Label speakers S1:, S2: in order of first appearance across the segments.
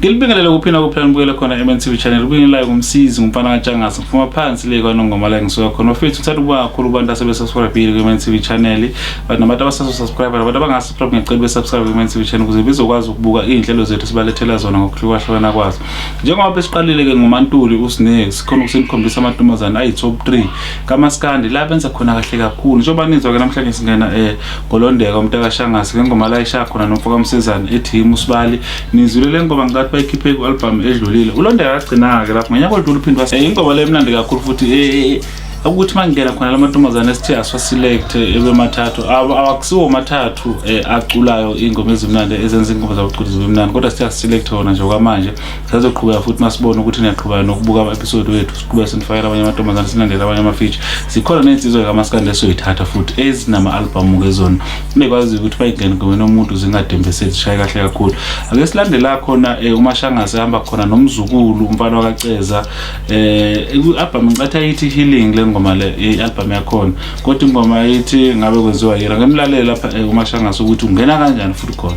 S1: ngilibingelele kuphina kuphela nibukele khona MNTV channel ubingelelayo ngumsizi ngumfana katshangasa ngifuma phansi le kwanongoma la ngisuka khona bafethu ngithanda ukuba kakhulu kubantu asebesubscribile kwi-MNTV channel but nabantu abasasubscribe nabantu abangasubscribe ngiyacela besubscribe kwi-MNTV channel ukuze bezokwazi ukubuka iy'nhlelo zethu sibalethela zona ngokuhlukahlukana kwazo njengoba besiqalile-ke ngumantuli usne sikhona ukusenikhombisa amantombazane ayi-top 3 kamaskandi la benza khona kahle kakhulu njengoba nizwa-ke namhlanje singena um ngolondeka umntakashangase le ngoma layishaya khona nomfoka msizane ethi yimi usibali nizwile le ngoma ngikathi bayikhiphe ku-albhamu edlulile ulondeka agcina-ke lapho ngonyaka odlula uphinde wase eh, ingoma le mnandi kakhulu futhi eh, eh, ukuthi uma ngingena khona la mantombazane esithe asiwaselekte ebemathathu awakusiwo mathathu um aculayo iy'ngoma ezimnandi ezenza iy'ngoma zabuculizi bemnandi kodwa sithe asiselekte wona nje kwamanje sazoqhubeka futhi masibona ukuthi niyaqhubeka nokubuka ama-episode wethu siqhubeka sinifakela abanye amantombazane silandele abanye amafeature zikhona ney'nsizwa kamaskandi esoyithatha futhi ezinama-albhamu kezona bekwaziyo ukuthi bayingene ngomeni omuntu zingadembeseli zishaye kahle kakhulu ake silandela khona um eh, umashangase ehamba khona nomzukulu umfana wakaceza um eh, i-albhamu ngicathi ayithi healing le ngoma le i-albhamu yakhona kodwa ingoma ayithi ngabe kwenziwa yena ngemlalele lapha eh, umashangase ukuthi ungena kanjani futhi khona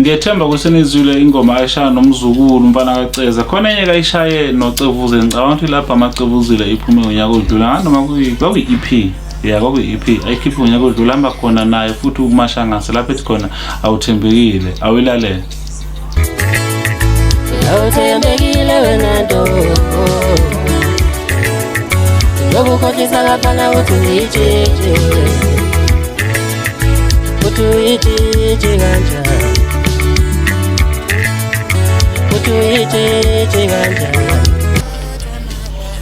S1: ngiyethemba ukuthi nizwile ingoma ayishaya nomzukulu umfana kaceza khona enye kayishaye nocevuze ngicabanga ukuthi lapho amacevuzile iphume ngonyaka odlula nganoma kwakuyi-ep ya kwakuyi-ep ayikhiphe ngonyaka odlula hamba khona naye futhi ukumashangase lapho ethi khona awuthembekile awuyilalele
S2: awuthembekile wena nto lokukhohlisa ngapana uthi uyitshintshe Uthi uyitshitshi kanjani Uthi uyitshitshi kanjani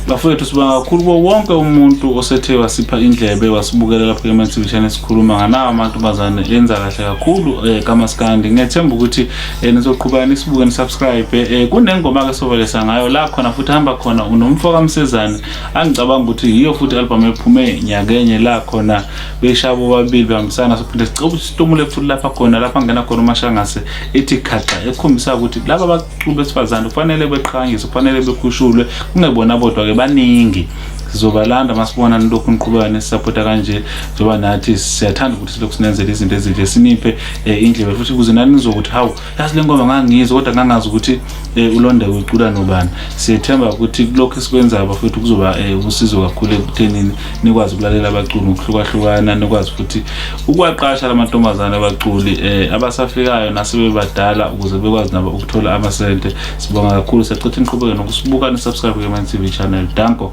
S1: bafowethu sibonga kakhulu kuwo wonke umuntu osethe wasipha indlebe wasibukela lapho ematv channel sikhuluma nganawo amantombazane enza kahle kakhulu um eh, kamaskandi ngethemba ukuthi um eh, nizoqhubeka nisibuke nisubscribe um eh, kunengoma-ke sovalesa ngayo la khona futhi hamba khona unomfo kamsezane angicabanga ukuthi yiyo futhi i-albhamu ephume nyakenye la khona beshaya bobabili behambisana sophinde sicela ukuthi situmule futhi lapha khona lapha ngena khona umashangase ithi khaxa ekhombisa ukuthi laba baculi besifazane kufanele beqhanyiswe kufanele bekhushulwe kungebona bodwa-ke baningi sizobalanda masibona nilokhu niqhubeka nesisapota kanje njengoba nathi siyathanda ukuthi silokhu sinenzela izinto ezinhle siniphe um indlela futhi ukuze nani nizokuthi hawu yazi le ngoma ngangiyizwa kodwa ngangazi ukuthi um eh, ulonda wecula nobani siyethemba ukuthi kulokhu esikwenzayo bafethu kuzoba um usizo kakhulu ekuthenini nikwazi ukulalela abaculi ngokuhlukahlukana nikwazi futhi ukuwaqasha la mantombazane abaculi um abasafikayo nasebebadala ukuze bekwazi nabo ukuthola amasente sibonga kakhulu siyacitha iniqhubeke nokusibuka nisubscribe ke-mantv channel danko